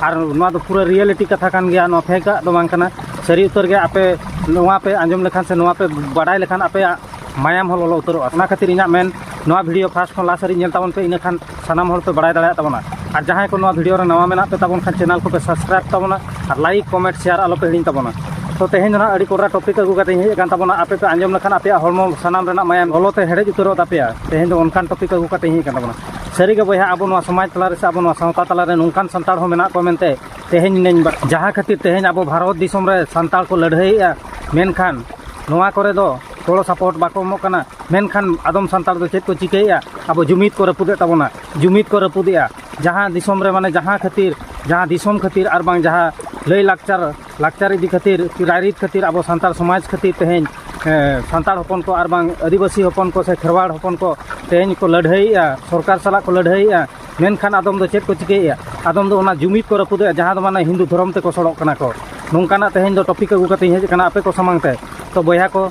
ᱟᱨ ᱱᱚᱣᱟ ᱫᱚ ᱯᱩᱨᱟᱹ ᱨᱤᱭᱮᱞᱤᱴᱤ ᱠᱟᱛᱷᱟ ᱠᱟᱱ ᱜᱮᱭᱟ ᱱᱚᱣᱟ ᱯᱷᱮᱠᱟᱜ ᱫᱚ ᱵᱟᱝ ᱠᱟᱱᱟ ᱥᱟᱹᱨᱤ ᱩᱛᱟᱹᱨ ᱜᱮ ᱟᱯᱮ ᱱᱚᱣᱟ ᱯᱮ ᱟᱸᱡᱚᱢ ᱞᱮᱠᱷᱟᱱ ᱥᱮ ᱱᱚᱣᱟ ᱯᱮ ᱵᱟᱰᱟᱭ ᱞᱮᱠᱷᱟᱱ ᱟᱯᱮᱭᱟᱜ ᱢᱟᱭᱟᱢ ᱦᱚᱸ ᱞᱚᱞᱚ ᱩᱛᱟᱹᱨᱚᱜᱼᱟ ᱚᱱᱟ ᱠᱷᱟᱹᱛᱤᱨ ᱤᱧᱟᱹᱜ ᱢᱮᱱ ᱱᱚᱣᱟ ᱵᱷᱤᱰᱤᱭᱳ ᱯᱷᱟᱥᱴ ᱠᱷᱚᱱ ᱞᱟᱥᱴ ᱦᱟᱹᱨᱤᱡ ᱧᱮᱞ ᱛᱟᱵᱚᱱ ᱯᱮ ᱤᱱᱟᱹ ᱠᱷᱟᱱ ᱥᱟᱱᱟᱢ ᱦᱚᱲ ᱯᱮ ᱵᱟᱲᱟᱭ ᱫᱟᱲᱮᱭᱟᱜ ᱛᱟᱵᱚᱱᱟ ᱟᱨ ᱡᱟᱦᱟᱸᱭ ᱠᱚ ᱱᱚᱣᱟ ᱵᱷᱤᱰᱤᱭᱳ ᱨᱮ ᱱᱟᱣᱟ ᱢᱮᱱᱟᱜ ᱯᱮ ᱛᱟᱵᱚᱱ ᱠᱷᱟᱱ ᱪᱮᱱᱮᱞ ᱠᱚᱯᱮ ᱥᱟᱵᱥᱠᱨᱟᱭᱤᱵᱽ ᱛᱟᱵᱚᱱᱟ ᱟᱨ ᱞᱟᱭᱤᱠ ᱠᱚᱢᱮᱱᱴ ᱥᱮᱭᱟᱨ ᱟᱞᱚ ᱯᱮ ᱦᱤᱲᱤᱧ ᱛᱟᱵᱚᱱᱟ ᱛᱚ ᱛᱮᱦᱮᱧ ᱫᱚ ᱱᱟᱦᱟᱜ ᱟᱹᱰᱤ ᱠᱚᱰᱨᱟ ᱴᱚᱯᱤᱠ ᱟᱹᱜᱩ ᱠᱟᱛᱮ ᱦᱮᱡ ᱟᱠᱟᱱ ᱛᱟᱵᱚᱱᱟ ᱟᱯᱮ ᱯᱮ ᱟᱸᱡᱚᱢ ᱞᱮᱠᱷᱟᱱ ᱟᱯᱮᱭᱟᱜ ᱦᱚᱲᱢᱚ ᱥᱟᱱᱟᱢ ᱨᱮᱱᱟᱜ ᱢᱟᱭᱟᱢ ᱞᱚᱞᱚ ᱛᱮ ᱦᱮᱰᱮᱡ ᱩᱛᱟᱹᱨᱚᱜ ᱛᱟᱯᱮᱭᱟ ᱛᱮᱦᱮᱧ ᱫᱚ ᱚᱱᱠᱟᱱ ᱴᱚᱯᱤᱠ ᱟᱹᱜᱩ ᱠᱟᱛᱮ ᱦᱮᱡ ᱟᱠᱟᱱ ᱛᱟᱵᱚᱱᱟ ᱥᱟᱹᱨᱤ ᱜᱮ ᱵᱚᱭᱦᱟ ᱟᱵᱚ ᱱᱚᱣᱟ ᱥᱚᱢᱟᱡᱽ ᱛᱟᱞᱟ ᱨᱮ ᱥᱮ ᱟᱵᱚ ᱱᱚᱣᱟ ᱥᱟᱶᱛᱟ ᱛᱟᱞᱟ ᱨᱮ ᱱᱚᱝᱠᱟᱱ ᱥᱟᱱᱛᱟᱲ ᱦᱚᱸ ᱢᱮᱱᱟᱜ ᱠᱚᱣᱟ ᱢᱮᱱᱛᱮ ᱛᱮᱦᱮᱧ ᱤᱧ ᱡᱟᱦᱟᱸ ᱠᱷᱟᱹᱛᱤᱨ ᱛᱮᱦᱮᱧ ᱟᱵᱚ ᱵᱷᱟᱨᱚᱛ ᱫᱤᱥᱚᱢ ᱨᱮ ᱥᱟᱱᱛᱟᱲ ᱠᱚ ᱞᱟᱹᱲᱦᱟᱹᱭᱮᱜᱼᱟ ᱢᱮᱱᱠᱷᱟᱱ ᱱᱚᱣᱟ ᱠᱚᱨᱮ ᱫᱚ ᱜᱚᱲᱚ ᱥᱚᱯᱚᱦᱚᱫ ᱵᱟᱠᱚ ᱮᱢᱚᱜ ᱠᱟᱱᱟ ᱢᱮᱱᱠᱷᱟᱱ ᱟᱫᱚᱢ ᱥᱟᱱᱛᱟᱲ ᱫᱚ ᱪᱮᱫ ᱠᱚ ᱪᱤᱠᱟᱹᱭᱮᱜᱼᱟ ᱟᱵᱚ ᱡᱩᱢᱤᱫ ᱠᱚ ᱨᱟᱹᱯᱩᱫᱮᱜ ᱛᱟᱵᱚᱱᱟ ᱡᱩᱢᱤᱫ ᱠᱚ ᱨᱟᱹᱯᱩᱫᱮᱜᱼᱟ ᱡᱟᱦᱟᱸ ᱫᱤᱥᱚᱢ ᱨᱮ ᱢᱟᱱᱮ ᱡᱟᱦᱟᱸ ᱠᱷᱟᱹᱛᱤᱨ ᱡᱟᱦᱟᱸ ᱫᱤᱥᱚᱢ ᱠᱷᱟᱹᱛᱤᱨ ᱟᱨ ᱵᱟᱝ ᱡᱟᱦᱟᱸ ᱞᱟᱹᱭᱼᱞᱟᱠᱪᱟᱨ ᱞᱟᱠᱪᱟᱨ ᱤᱫᱤ ᱠᱷᱟᱹᱛᱤᱨ ᱨᱟᱭᱨᱤᱛ ᱠᱷᱟᱹᱛᱤᱨ ᱟᱵᱚ ᱥᱟᱱᱛᱟᱲ ᱥᱚᱢᱟᱡᱽ ᱠᱷᱟᱹᱛᱤᱨ ᱛᱮᱦᱮᱧ ᱥᱟᱱᱛᱟᱲ ᱦᱚᱯᱚᱱ ᱠᱚ ᱟᱨ ᱵᱟᱝ ᱟᱹᱫᱤᱵᱟᱹᱥᱤ ᱦᱚᱯᱚᱱ ᱠᱚ ᱥᱮ ᱠᱷᱮᱨᱣᱟᱲ ᱦᱚᱯᱚᱱ ᱠᱚ ᱛᱮᱦᱮᱧ ᱠᱚ ᱞᱟᱹᱲᱦᱟᱹᱭᱮᱜᱼᱟ ᱥᱚᱨᱠᱟᱨ ᱥᱟᱞᱟᱜ ᱠᱚ ᱞᱟᱹᱲᱦᱟᱹᱭᱮᱜᱼᱟ ᱢᱮᱱᱠᱷᱟᱱ ᱟᱫᱚᱢ ᱫᱚ ᱪᱮᱫ ᱠᱚ ᱪᱤᱠᱟᱹᱭᱮᱜᱼᱟ ᱟᱫᱚᱢ ᱫᱚ ᱚᱱᱟ ᱡᱩᱢᱤᱫ ᱠᱚ ᱨᱟᱹᱯᱩᱫᱮᱜᱼᱟ ᱡᱟᱦᱟᱸ ᱫᱚ ᱢᱟᱱᱮ ᱦᱤᱱᱫᱩ ᱫᱷᱚᱨᱚᱢ ᱛᱮᱠᱚ ᱥᱚᱲᱚᱜ ᱠᱟᱱᱟ ᱠᱚ ᱱᱚᱝᱠᱟᱱᱟᱜ ᱛᱮᱦᱮᱧ ᱫᱚ ᱴᱚᱯᱤᱠ ᱟᱹᱜᱩ ᱠᱟᱛᱮᱧ ᱦᱮᱡ ᱠᱟᱱᱟ ᱟᱯᱮ ᱠᱚ ᱥᱟᱢᱟᱝ ᱛᱮ ᱛᱚ ᱵᱚᱭᱦᱟ ᱠᱚ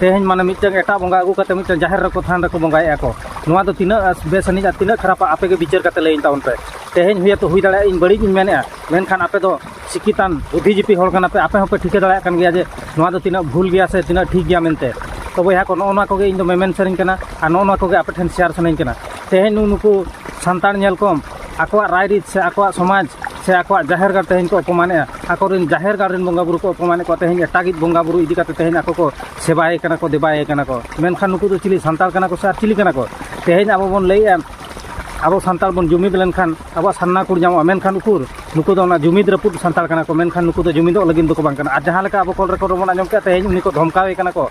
ᱛᱮᱦᱮᱧ ᱢᱟᱱᱮ ᱢᱤᱫᱴᱟᱝ ᱮᱴᱟᱜ ᱵᱚᱸᱜᱟ ᱟᱹᱜᱩ ᱠᱟᱛᱮ ᱢᱤᱫᱴᱟᱝ ᱡᱟᱦᱮᱨ ᱨᱮᱠᱚ ᱛᱷᱟᱱ ᱨᱮᱠᱚ ᱵᱚᱸᱜᱟᱭᱮᱜᱼᱟ ᱠᱚ ᱱᱚᱣᱟ ᱫᱚ ᱛᱤᱱᱟᱹᱜ ᱵᱮᱥ ᱟᱹᱱᱤᱡ ᱟᱨ ᱛᱤᱱᱟᱹᱜ ᱠᱷᱟᱨᱟᱯᱟ ᱟᱯᱮ ᱜᱮ ᱵᱤᱪᱟᱹᱨ ᱠᱟᱛᱮ ᱞᱟᱹᱭᱟᱹᱧ ᱛᱟᱵᱚᱱ ᱯᱮ ᱛᱮᱦᱮᱧ ᱦᱚᱭᱛᱳ ᱦᱩᱭ ᱫᱟᱲᱮᱭᱟᱜᱼᱟ ᱤᱧ ᱵᱟᱹᱲᱤᱡ ᱤᱧ ᱢᱮᱱᱮᱜᱼᱟ ᱢᱮᱱᱠᱷᱟᱱ ᱟᱯᱮ ᱫᱚ ᱥᱤᱠᱷᱤᱛᱟᱱ ᱵᱩᱫᱷᱤ ᱡᱤᱵᱤ ᱦᱚᱲ ᱠᱟᱱᱟ ᱯᱮ ᱟᱯᱮ ᱦᱚᱸᱯᱮ ᱴᱷᱤᱠᱟᱹ ᱫᱟᱲᱮᱭᱟᱜ ᱠᱟᱱ ᱜᱮᱭᱟ ᱡᱮ ᱱᱚᱣᱟ ᱫᱚ ᱛᱤᱱᱟᱹᱜ ᱵᱷᱩᱞ ᱜᱮᱭᱟ ᱥᱮ ᱛᱤᱱᱟᱹᱜ ᱴᱷᱤᱠ ᱜᱮᱭᱟ ᱢᱮᱱᱛᱮ ᱛᱚ ᱵᱚᱭᱦᱟ ᱠᱚ ᱱᱚᱜᱼᱚ ᱱᱚᱣᱟ ᱠᱚᱜᱮ ᱤᱧ ᱫᱚ ᱢᱮᱢᱮᱱ ᱥᱟᱱᱟᱧ ᱠᱟᱱᱟ ᱟᱨ ᱱᱚᱜᱼᱚ ᱱᱚᱣᱟ ᱠᱚᱜᱮ ᱟᱯᱮ ᱴᱷᱮᱱ ᱥᱮᱭᱟᱨ ᱥᱟᱱᱟᱧ ᱠᱟᱱᱟ ᱛᱮᱦᱮᱧ ᱱᱩᱜᱼᱩ ᱱᱩᱠᱩ ᱥᱟᱱᱛᱟᱲ ᱧᱮᱞ ᱠᱚᱢ ᱟᱠᱚᱣᱟᱜ ᱨᱟᱭᱨᱤᱛ ᱥᱮ ᱟᱠᱚᱣᱟᱜ ᱥᱚᱢᱟᱡᱽ ᱥᱮ ᱟᱠᱚᱣᱟᱜ ᱡᱟᱦᱮᱨ ᱜᱟᱲ ᱛᱮᱦᱮᱧ ᱠᱚ ᱚᱯᱚᱢᱟᱱᱮᱜᱼᱟ ᱟᱠᱚᱨᱮᱱ ᱡᱟᱦᱮᱨ ᱜᱟᱲ ᱨᱮᱱ ᱵᱚᱸᱜᱟ ᱵᱩᱨᱩ ᱠᱚ ᱚᱯᱚᱢᱟᱱᱮᱫ ᱠᱚᱣᱟ ᱛᱮᱦᱮᱧ ᱮᱴᱟᱜᱤᱡ ᱵᱚᱸᱜᱟ ᱵᱩᱨᱩ ᱤᱫᱤ ᱠᱟᱛᱮ ᱛᱮᱦᱮᱧ ᱟᱠᱚ ᱠᱚ ᱥᱮᱵᱟᱭᱮ ᱠᱟᱱᱟ ᱠᱚ ᱫᱮᱵᱟᱭᱮ ᱠᱟᱱᱟ ᱠᱚ ᱢᱮᱱᱠᱷᱟᱱ ᱱᱩᱠᱩ ᱫᱚ ᱪᱤᱞᱤ ᱥᱟᱱᱛᱟᱲ ᱠᱟᱱᱟ ᱠᱚ ᱥᱮ ᱟᱨ ᱪᱤᱞᱤ ᱠᱟᱱᱟ ᱠᱚ ᱛᱮᱦᱮᱧ ᱟᱵᱚ ᱵᱚᱱ ᱞᱟᱹᱭᱮᱜᱼᱟ ᱟᱵᱚ ᱥᱟᱱᱛᱟᱲ ᱵᱚᱱ ᱡᱩᱢᱤᱫ ᱞᱮᱱᱠᱷᱟᱱ ᱟᱵᱚᱣᱟᱜ ᱥᱟᱨᱱᱟ ᱠᱚ ᱧᱟᱢᱚᱜᱼᱟ ᱢᱮᱱᱠᱷᱟᱱ ᱩᱠᱩᱨ ᱱᱩᱠᱩ ᱫᱚ ᱚᱱᱟ ᱡᱩᱢᱤᱫ ᱨᱟᱹᱯᱩᱫ ᱥᱟᱱᱛᱟᱲ ᱠᱟᱱᱟ ᱠᱚ ᱢᱮᱱᱠᱷᱟᱱ ᱱᱩᱠᱩ ᱫᱚ ᱡᱩᱢᱤᱫᱚᱜ ᱞᱟᱹᱜᱤᱫ ᱫᱚᱠᱚ ᱵᱟᱝ ᱠᱟᱱᱟ ᱟᱨ ᱡᱟᱦᱟᱸ ᱞᱮᱠᱟ ᱟᱵᱚ ᱠᱚᱞ ᱨᱮᱠᱚᱨᱰ ᱨᱮᱵᱚᱱ ᱟᱸᱡᱚᱢ ᱠᱮᱜᱼᱟ ᱛᱮᱦᱮᱧ ᱩᱱᱤ ᱠᱚ ᱫᱷᱚᱢᱠᱟᱣᱮ ᱠᱟᱱᱟ ᱠᱚ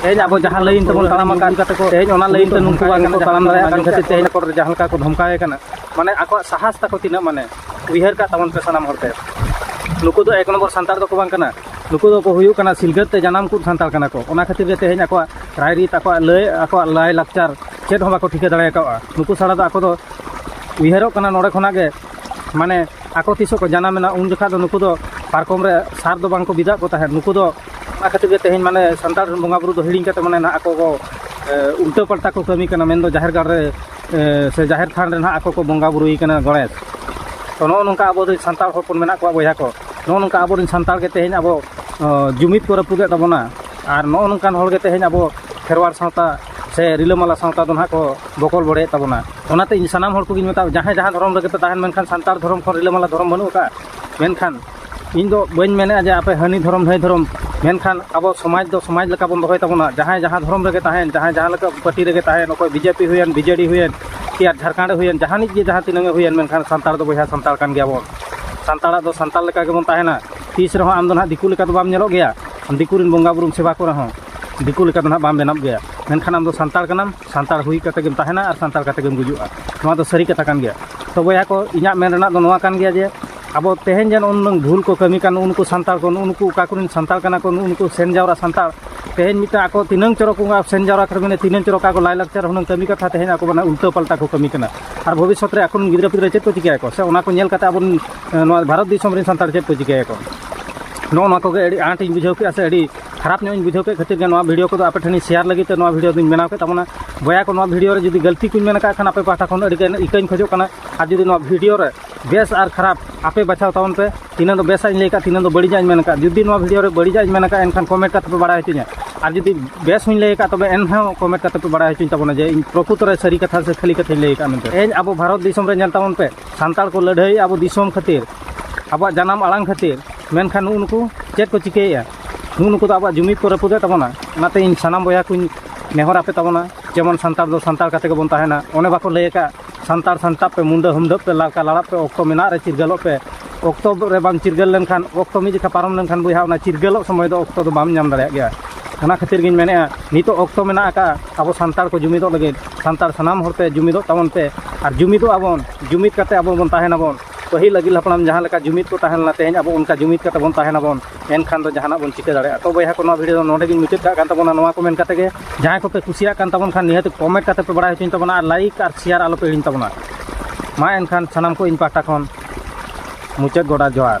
ᱛᱮᱦᱮᱧ ᱟᱵᱚ ᱡᱟᱦᱟᱸ ᱞᱟᱹᱭᱤᱱ ᱛᱮᱵᱚᱱ ᱛᱟᱲᱟᱢ ᱟᱠᱟᱫ ᱠᱟᱛᱮ ᱠᱚ ᱛᱮᱦᱮᱧ ᱚᱱᱟ ᱞᱟᱹᱭᱤᱱ ᱛᱮ ᱱᱩᱠᱩ ᱵᱟᱝ ᱠᱚ ᱛᱟᱲᱟᱢ ᱫᱟᱲᱮᱭᱟᱜ ᱠᱟᱱ ᱠᱷᱟᱹᱛᱤᱨ ᱛᱮᱦᱮᱧ ᱠᱚᱨᱮ ᱡᱟᱦᱟᱸ ᱞᱮᱠᱟ ᱠᱚ ᱫᱷᱚᱢᱠᱟᱣ ᱠᱟᱱᱟ ᱢᱟᱱᱮ ᱟᱠᱚᱣᱟᱜ ᱥᱟᱦᱟᱥ ᱛᱟᱠᱚ ᱛᱤᱱᱟᱹᱜ ᱢᱟᱱᱮ ᱩᱭᱦᱟᱹᱨ ᱠᱟᱜ ᱛᱟᱵᱚᱱ ᱯᱮ ᱥᱟᱱᱟᱢ ᱦᱚᱲ ᱛᱮ ᱱᱩᱠᱩ ᱫᱚ ᱮᱠ ᱱᱚᱢᱵᱚᱨ ᱥᱟᱱᱛᱟᱲ ᱫᱚᱠᱚ ᱵᱟᱝ ᱠᱟᱱᱟ ᱱᱩᱠᱩ ᱫᱚᱠᱚ ᱦᱩᱭᱩᱜ ᱠᱟᱱᱟ ᱥᱤᱞᱜᱟᱹᱛ ᱛᱮ ᱡᱟᱱᱟᱢ ᱠᱚ ᱥᱟᱱᱛᱟᱲ ᱠᱟᱱᱟ ᱠᱚ ᱚᱱᱟ ᱠᱷᱟᱹᱛᱤᱨ ᱜᱮ ᱛᱮᱦᱮᱧ ᱟᱠᱚᱣᱟᱜ ᱨᱟᱭᱨᱤᱛ ᱟᱠᱚᱣᱟᱜ ᱞᱟᱹᱭ ᱟᱠᱚᱣᱟᱜ ᱞᱟᱭ ᱞᱟᱠᱪᱟᱨ ᱪᱮᱫ ᱦᱚᱸ ᱵᱟᱠᱚ ᱴᱷᱤᱠᱟᱹ ᱫᱟᱲᱮ ᱠᱟᱜᱼᱟ ᱱᱩᱠᱩ ᱥᱟᱲᱟ ᱫᱚ ᱟᱠᱚ ᱫᱚ ᱩᱭᱦᱟᱹᱨᱚᱜ ᱠᱟᱱᱟ ᱱᱚᱰᱮ ᱠᱷᱚᱱᱟᱜ ᱜᱮ ᱢᱟᱱᱮ ᱟᱠᱚ ᱛᱤᱥᱚᱜ ᱠᱚ ᱡᱟᱱᱟᱢᱮᱱᱟ ᱩᱱ ᱡᱚᱠᱷᱟᱡ ᱫᱚ ᱱᱩᱠᱩ ᱫᱚ ᱯᱟᱨᱠᱚᱢ ᱨᱮ ᱥᱟᱨ ᱫᱚ ᱵᱟᱝ ᱠᱚ ᱵᱤᱫᱟᱜ ᱠᱚ ᱛᱟᱦᱮᱸᱫ ᱱᱩᱠᱩ ᱫᱚ ᱚᱱᱟ ᱠᱷᱟᱹᱛᱤᱨ ᱜᱮ ᱛᱮᱦᱮᱧ ᱢᱟᱱᱮ ᱥᱟᱱᱛᱟᱲ ᱨᱮᱱ ᱵᱚᱸᱜᱟ ᱵᱩᱨᱩ ᱫᱚ ᱦᱤᱲᱤᱧ ᱠᱟᱛᱮ ᱢᱟᱱᱮ ᱱᱟᱦᱟᱜ ᱟᱠᱚ ᱠᱚ ᱩᱞᱴᱟᱹ ᱯᱟᱞᱴᱟ ᱠᱚ ᱠᱟᱹᱢᱤ ᱠᱟᱱᱟ ᱢᱮᱱᱫᱚ ᱡᱟᱦᱮᱨ ᱜᱟᱲ ᱨᱮ ᱥᱮ ᱡᱟᱦᱮᱨ ᱛᱷᱟᱱ ᱨᱮ ᱱᱟᱦᱟᱜ ᱟᱠᱚ ᱠᱚ ᱵᱚᱸᱜᱟ ᱵᱩᱨᱩᱭ ᱠᱟᱱᱟ ᱜᱚᱬᱮᱥ ᱛᱚ ᱱᱚᱜᱼᱚ ᱱᱚᱝᱠᱟ ᱟᱵᱚ ᱫᱚ ᱥᱟᱱᱛᱟᱲ ᱦᱚᱯᱚᱱ ᱢᱮᱱᱟᱜ ᱠᱚᱣᱟ ᱵᱚᱭᱦᱟ ᱠᱚ ᱱᱚᱜᱼᱚ ᱱᱚᱝᱠᱟ ᱟᱵᱚᱨᱮᱱ ᱥᱟᱱᱛᱟᱲ ᱜᱮ ᱛᱮᱦᱮᱧ ᱟᱵᱚ ᱡᱩᱢᱤᱫ ᱠᱚ ᱨᱟᱹᱯᱩᱫᱮᱫ ᱛᱟᱵᱚᱱᱟ ᱟᱨ ᱱᱚᱜᱼᱚ ᱱᱚᱝᱠᱟᱱ ᱦᱚᱲᱜᱮ ᱛᱮᱦᱮᱧ ᱟᱵᱚ ᱠᱷᱮᱨᱣᱟᱲ ᱥᱟᱶᱛᱟ ᱥᱮ ᱨᱤᱞᱟᱹᱢᱟᱞᱟ ᱥᱟᱶᱛᱟ ᱫᱚ ᱱᱟᱦᱟᱜ ᱠᱚ ᱵᱚᱠᱚᱞ ᱵᱚᱲᱮᱭᱮᱫ ᱛᱟᱵᱚᱱᱟ ᱚᱱᱟᱛᱮ ᱤᱧ ᱥᱟᱱᱟᱢ ᱦᱚᱲ ᱠᱚᱜᱮᱧ ᱢᱮᱛᱟᱣ ᱡᱟᱦᱟᱸᱭ ᱡᱟᱦᱟᱸ ᱫᱷᱚᱨᱚᱢ ᱨᱮᱜᱮ ᱯᱮ ᱛᱟᱦᱮᱱ ᱢᱮᱱᱠᱷᱟᱱ ᱥᱟᱱᱛᱟᱲ ᱫᱷᱚᱨᱚᱢ ᱠᱷᱚᱱ ᱨᱤᱞᱟᱹᱢᱟᱞᱟ ᱫᱷᱚᱨᱚᱢ ᱵᱟᱹᱱᱩᱜ ᱟᱠᱟᱫᱼᱟ ᱢᱮᱱᱠᱷᱟᱱ ᱤᱧ ᱫᱚ ᱵᱟᱹᱧ ᱢᱮᱱᱮᱫᱼᱟ ᱡᱮ ᱟᱯᱮ ᱦᱟᱹᱱᱤ ᱫᱷᱚᱨᱚᱢ ᱱᱟᱹᱭ ᱫᱷᱚᱨᱚᱢ ᱢᱮᱱᱠᱷᱟᱱ ᱟᱵᱚ ᱥᱚᱢᱟᱡᱽ ᱫᱚ ᱥᱚᱢᱟᱡᱽ ᱞᱮᱠᱟ ᱵᱚᱱ ᱫᱚᱦᱚᱭ ᱛᱟᱵᱚᱱᱟ ᱡᱟᱦᱟᱸᱭ ᱡᱟᱦᱟᱸ ᱫᱷᱚᱨᱚᱢ ᱨᱮᱜᱮ ᱛᱟᱦᱮᱱ ᱡᱟᱦᱟᱸᱭ ᱡᱟᱦᱟᱸ ᱞᱮᱠᱟ ᱯᱟᱹᱴᱤ ᱨᱮᱜᱮ ᱛᱟᱦᱮᱱ ᱚᱠᱚᱭ ᱵᱤ ᱡᱮ ᱯᱤ ᱦᱩᱭᱮᱱ ᱵᱤ ᱡᱮ ᱰᱤ ᱦᱩᱭᱮᱱ ᱠᱤ ᱟᱨ ᱡᱷᱟᱲᱠᱷᱚᱸᱰ ᱨᱮ ᱦᱩᱭᱮᱱ ᱡᱟᱦᱟᱱᱤᱡ ᱜᱮ ᱡᱟᱦᱟᱸ ᱛᱤᱱᱟᱹᱜ ᱜᱮ ᱦᱩᱭᱮᱱ ᱢᱮᱱᱠᱷᱟᱱ ᱥᱟᱱᱛᱟᱲ ᱫᱚ ᱵᱚᱭᱦᱟ ᱥᱟᱱᱛᱟᱲ ᱠᱟᱱ ᱜᱮᱭᱟ ᱵᱚᱱ ᱥᱟᱱᱛᱟᱲᱟᱜ ᱫᱚ ᱥᱟᱱᱛᱟᱲ ᱞᱮᱠᱟ ᱜᱮᱵᱚᱱ ᱛᱟᱦᱮᱱᱟ ᱛᱤᱥ ᱨᱮᱦᱚᱸ ᱟᱢ ᱫᱚ ᱱᱟᱦᱟᱜ ᱫᱤᱠᱩ ᱞᱮᱠᱟ ᱫᱚ ᱵᱟᱢ ᱧᱮᱞᱚᱜ ᱜᱮᱭᱟ ᱫᱤᱠᱩ ᱨᱮᱱ ᱵᱚᱸᱜᱟ ᱵᱩᱨᱩᱢ ᱥᱮᱵᱟ ᱠᱚ ᱨᱮᱦᱚᱸ ᱫᱤᱠᱩ ᱞᱮᱠᱟ ᱫᱚ ᱱᱟᱦᱟᱜ ᱵᱟᱢ ᱵᱮᱱᱟᱜ ᱜᱮᱭᱟ ᱢᱮᱱᱠᱷᱟᱱ ᱟᱢ ᱫᱚ ᱥᱟᱱᱛᱟᱲ ᱠᱟᱱᱟᱢ ᱥᱟᱱᱛᱟᱲ ᱦᱩᱭ ᱠᱟᱛᱮᱫ ᱜᱮᱢ ᱛᱟᱦᱮᱱᱟ ᱟᱨ ᱥᱟᱱᱛᱟᱲ ᱠᱟᱛᱮᱫ ᱜᱮᱢ ᱜᱩᱡᱩᱜᱼᱟ ᱱᱚᱣᱟ ᱫᱚ ᱥᱟᱹᱨᱤ ᱠᱟᱛᱷᱟ ᱠᱟᱱ ᱜᱮᱭᱟ ᱛᱚ ᱵᱚᱭᱦᱟ ᱠᱚ ᱤᱧᱟᱹᱜ ᱢᱮᱱ ᱨᱮᱱᱟᱜ ᱫᱚ ᱱᱚᱣᱟ ᱠᱟᱱ ᱜᱮᱭᱟ ᱡᱮ ᱟᱵᱚ ᱛᱮᱦᱮᱧ ᱡᱮ ᱱᱩᱱᱟᱹᱝ ᱵᱷᱩᱞ ᱠᱚ ᱠᱟᱹᱢᱤ ᱠᱟᱱ ᱱᱩᱜᱼᱩ ᱱᱩᱠᱩ ᱥᱟᱱᱛᱟᱲ ᱠᱚ ᱱᱩᱜᱼᱩ ᱱᱩᱠᱩ ᱚᱠᱟ ᱠᱚᱨᱮᱱ ᱥᱟᱱᱛᱟᱲ ᱠᱟᱱᱟ ᱠᱚ ᱱᱩᱜᱼᱩ ᱱᱩᱠᱩ ᱥᱮᱱ ᱡᱟᱣᱨᱟ ᱥᱟᱱᱛᱟᱲ ᱛᱮᱦᱮᱧ ᱢᱤᱫᱴᱟᱝ ᱟᱠᱚ ᱛᱤᱱᱟᱹᱝ ᱪᱚᱨᱚᱠ ᱠᱚ ᱥᱮᱱ ᱡᱟᱣᱨᱟ ᱠᱟᱛᱮᱫ ᱢᱟᱱᱮ ᱛᱤᱱᱟᱹᱝ ᱪᱚᱨᱚᱠ ᱟᱠᱚ ᱞᱟᱭᱼᱞᱟᱠᱪᱟᱨ ᱦᱩᱱᱟᱹᱝ ᱠᱟᱹᱢᱤ ᱠᱟᱛᱷᱟ ᱛᱮᱦᱮᱧ ᱟᱠᱚ ᱢᱟᱱᱮ ᱩᱞᱴᱟᱹ ᱯᱟᱞᱴᱟ ᱠᱚ ᱠᱟᱹᱢᱤ ᱠᱟᱱᱟ ᱟᱨ ᱵᱷᱚᱵᱤᱥᱥᱚᱛ ᱨᱮ ᱟᱠᱚ ᱨᱮᱱ ᱜᱤᱫᱽᱨᱟᱹ ᱯᱤᱫᱽᱨᱟᱹ ᱪᱮᱫ ᱠᱚ ᱪᱤᱠᱟᱹᱭᱟᱠᱚ ᱥᱮ ᱚᱱᱟ ᱠᱚ ᱧᱮᱞ ᱠᱟᱛᱮᱫ ᱟᱵᱚ ᱱᱚᱣᱟ ᱵᱷᱟᱨᱚᱛ ᱫᱤᱥᱚᱢ ᱨᱮᱱ ᱥᱟᱱᱛᱟᱲ ᱪᱮᱫ ᱠᱚ ᱪᱤᱠᱟᱹᱭᱟᱠᱚ ᱱᱚᱜᱼᱚ ᱱᱚᱣᱟ ᱠᱚᱜᱮ ᱟᱹᱰᱤ ᱟᱸᱴ ᱤᱧ ᱵᱩᱡᱷᱟᱹᱣ ᱠᱮᱫᱼᱟ ᱥᱮ ᱟᱹᱰᱤ ᱠᱷᱟᱨᱟᱯ ᱧᱚᱜ ᱤᱧ ᱵᱩᱡᱷᱟᱹᱣ ᱠᱮᱫ ᱠᱷᱟᱹᱛᱤᱨ ᱜᱮ ᱱᱚᱣᱟ ᱵᱷᱤᱰᱤᱭᱳ ᱠᱚᱫᱚ ᱟᱯᱮ ᱴᱷᱮᱱᱤᱧ ᱥᱮᱭᱟᱨ ᱞᱟᱹᱜᱤᱫ ᱛᱮ ᱱᱚᱣᱟ ᱵᱷᱤᱰᱤᱭᱳ ᱫᱚᱧ ᱵᱮᱱᱟᱣ ᱠᱮᱫ ᱛᱟᱵᱚᱱᱟ ᱵᱚᱭᱦᱟ ᱠᱚ ᱱᱚᱣᱟ ᱵᱷᱤᱰᱤᱭᱳ ᱨᱮ ᱡᱩᱫᱤ ᱜᱟᱹᱞᱛᱤ ᱠᱚᱧ ᱢᱮᱱ ᱟᱠᱟᱫ ᱠᱷᱟᱱ ᱟᱯᱮ ᱯᱟᱦᱴᱟ ᱠᱷᱚᱱ ᱟᱹᱰᱤᱜᱟᱱ ᱤᱠᱟᱹᱧ ᱠᱷᱚᱡᱚᱜ ᱠᱟᱱᱟ ᱟᱨ ᱡᱩᱫᱤ ᱱᱚᱣᱟ ᱵᱷᱤᱰᱤᱭᱳ ᱨᱮ ᱵᱮᱥ ᱟᱨ ᱠᱷᱟᱨᱟᱯ ᱟᱯᱮ ᱵᱟᱪᱷᱟᱣ ᱛᱟᱵᱚᱱ ᱯᱮ ᱛᱤᱱᱟᱹᱜ ᱫᱚ ᱵᱮᱥᱟᱜ ᱤᱧ ᱞᱟᱹᱭ ᱠᱟᱜ ᱛᱤᱱᱟᱹᱜ ᱫᱚ ᱵᱟᱹᱲᱤᱡᱟᱜ ᱤᱧ ᱢᱮᱱ ᱠᱟᱜ ᱡᱩᱫᱤ ᱱᱚᱣᱟ ᱵᱷᱤᱰᱤᱭᱳ ᱨᱮ ᱵᱟᱹᱲᱤᱡᱟᱜ ᱤᱧ ᱢᱮᱱ ᱠᱟᱜ ᱮᱱᱠᱷᱟᱱ ᱠᱚᱢᱮᱱᱴ ᱠᱟᱛᱮ ᱯᱮ ᱵᱟᱲᱟᱭ ᱦᱚᱪᱚᱧᱟ ᱟᱨ ᱡᱩᱫᱤ ᱵᱮᱥ ᱦᱚᱧ ᱞᱟᱹᱭ ᱠᱟᱜ ᱛᱚᱵᱮ ᱮᱱᱦᱚᱸ ᱠᱚᱢᱮᱱᱴ ᱠᱟᱛᱮ ᱯᱮ ᱵᱟᱲᱟᱭ ᱦᱚᱪᱚᱧ ᱛᱟᱵᱚᱱᱟ ᱡᱮ ᱤᱧ ᱯᱨᱚᱠᱩᱛᱚ ᱨᱮ ᱥᱟᱹᱨᱤ ᱠᱟᱛᱷᱟ ᱥᱮ ᱠᱷᱟᱹᱞᱤ ᱠᱟᱛᱷᱟᱧ ᱞᱟᱹᱭ ᱠᱟᱜ ᱢᱮᱱᱛᱮ ᱛᱮᱦᱮᱧ ᱟᱵᱚ ᱵᱷᱟᱨᱚᱛ ᱫᱤᱥᱚᱢ ᱨᱮ ᱧᱮᱞ ᱛᱟᱵᱚᱱ ᱯᱮ ᱥᱟᱱᱛᱟᱲ ᱠᱚ ᱞᱟᱹᱲᱦᱟᱹᱭ ᱟᱵᱚ ᱫᱤᱥᱚᱢ ᱠᱷᱟᱹᱛᱤᱨ ᱟᱵᱚᱣᱟᱜ ᱡᱟᱱᱟᱢ ᱟᱲᱟᱝ ᱠᱷᱟᱹᱛᱤᱨ ᱢᱮᱱᱠᱷᱟᱱ ᱱᱩᱜᱼᱩ ᱱᱩᱠᱩ ᱪᱮᱫ ᱠᱚ ᱪᱤᱠᱟᱹᱭᱮᱫᱼᱟ ᱱᱩᱜᱼᱩ ᱱᱩᱠᱩ ᱫᱚ ᱟᱵᱚᱣᱟᱜ ᱡᱩᱢᱤᱫ ᱠᱚ ᱨᱟᱹᱯᱩᱫᱮᱫ ᱛᱟᱵᱚᱱᱟ ᱚᱱᱟᱛᱮ ᱤᱧ ᱥᱟᱱᱟᱢ ᱵᱚᱭᱦᱟ ᱠᱚᱧ ᱱᱮᱦᱚᱨ ᱟᱯᱮ ᱛᱟᱵᱚᱱᱟ ᱡᱮᱢᱚᱱ ᱥᱟᱱᱛᱟᱲ ᱫᱚ ᱥᱟᱱᱛᱟᱲ ᱠᱟᱛᱮ ᱜᱮᱵᱚᱱ ᱛᱟᱦᱮᱱᱟ ᱚᱱᱮ ᱵᱟᱠᱚ ᱞᱟᱹᱭ ᱠᱟᱜ ᱥᱟᱱᱛᱟᱲ ᱥᱟᱱᱛᱟᱲ ᱯᱮ ᱢᱩᱸᱰᱟᱹ ᱦᱩᱢᱰᱟᱹᱜ ᱯᱮ ᱞᱟᱲᱠᱟ ᱞᱟᱲᱟᱜ ᱯᱮ ᱚᱠᱛᱚ ᱢᱮᱱᱟᱜ ᱨᱮ ᱪᱤᱨᱜᱟᱹᱞᱚᱜ ᱯᱮ ᱚᱠᱛᱚ ᱨᱮ ᱵᱟᱢ ᱪᱤᱨᱜᱟᱹᱞ ᱞᱮᱱᱠᱷᱟᱱ ᱚᱠᱛᱚ ᱢᱤᱫ ᱡᱚᱠᱷᱟ ᱯᱟᱨᱚᱢ ᱞᱮᱱᱠᱷᱟᱱ ᱵᱚᱭᱦᱟ ᱚᱱᱟ ᱪᱤᱨᱜᱟᱹᱞᱚᱜ ᱥᱚᱢᱚᱭ ᱫᱚ ᱚᱠᱛᱚ ᱫᱚ ᱵᱟᱢ ᱧᱟᱢ ᱫᱟᱲᱮᱭᱟᱜ ᱜᱮᱭᱟ ᱚᱱᱟ ᱠᱷᱟᱹᱛᱤᱨ ᱜᱤᱧ ᱢᱮᱱᱮᱫᱼᱟ ᱱᱤᱛᱚᱜ ᱚᱠᱛᱚ ᱢᱮᱱᱟᱜ ᱟᱠᱟᱫᱼᱟ ᱟᱵᱚ ᱥᱟᱱᱛᱟᱲ ᱠᱚ ᱡᱩᱢᱤᱫᱚᱜ ᱞᱟᱹᱜᱤᱫ ᱥᱟᱱᱛᱟᱲ ᱥᱟᱱᱟᱢ ᱦᱚᱲᱛᱮ ᱡᱩᱢᱤᱫᱚᱜ ᱛᱟᱵᱚᱱ ᱯᱮ ᱟᱨ ᱡᱩᱢᱤᱫᱚᱜ ᱟᱵᱚᱱ ᱡᱩᱢᱤᱫ ᱠᱟᱛᱮᱫ ᱟᱵᱚ ᱵᱚᱱ ᱛᱟᱦᱮᱱᱟᱵᱚᱱ ᱯᱟᱹᱦᱤᱞ ᱟᱹᱜᱤᱞ ᱦᱟᱯᱲᱟᱢ ᱡᱟᱦᱟᱸ ᱞᱮᱠᱟ ᱡᱩᱢᱤᱫ ᱠᱚ ᱛᱟᱦᱮᱸ ᱞᱮᱱᱟ ᱛᱮᱦᱮᱧ ᱟᱵᱚ ᱚᱱᱠᱟ ᱡᱩᱢᱤᱫ ᱠᱟᱛᱮᱫ ᱵᱚᱱ ᱛᱟᱦᱮᱱᱟᱵᱚᱱ ᱮᱱᱠᱷᱟᱱ ᱫᱚ ᱡᱟᱦᱟᱱᱟᱜ ᱵᱚᱱ ᱪᱤᱠᱟᱹ ᱫᱟᱲᱮᱭᱟᱜᱼᱟ ᱛᱚ ᱵᱚᱭᱦᱟ ᱠᱚ ᱱᱚᱣᱟ ᱵᱷᱤᱰᱤᱭᱳ ᱫᱚ ᱱᱚᱰᱮ ᱜᱤᱧ ᱢᱩᱪᱟᱹᱫ ᱠᱟᱜ ᱠᱟᱱ ᱛᱟᱵᱚᱱᱟ ᱱᱚᱣᱟ ᱠᱚ ᱢᱮᱱ ᱠᱟᱛᱮ ᱜᱮ ᱡᱟᱦᱟᱸᱭ ᱠᱚᱯᱮ ᱠᱩᱥᱤᱭᱟᱜ ᱠᱟᱱ ᱛᱟᱵᱚᱱ ᱠᱷᱟᱱ ᱱᱤᱦᱟᱹᱛ ᱠᱚᱢᱮᱱᱴ ᱠᱟᱛᱮ ᱯᱮ ᱵᱟᱲᱟᱭ ᱦᱚᱪᱚᱧ ᱛᱟᱵᱚᱱᱟ ᱟᱨ ᱞᱟᱭᱤᱠ ᱟᱨ ᱥᱮᱭᱟᱨ ᱟᱞᱚ ᱯᱮ ᱦᱤᱲᱤᱧ ᱛᱟᱵᱚᱱᱟ ᱢᱟ ᱮᱱᱠᱷᱟᱱ ᱥᱟᱱᱟᱢ ᱠᱚ ᱤᱧ ᱯᱟᱦᱴᱟ ᱠᱷᱚᱱ ᱢᱩᱪᱟᱹᱫ ᱜᱚᱰᱟ ᱡᱚᱦᱟᱨ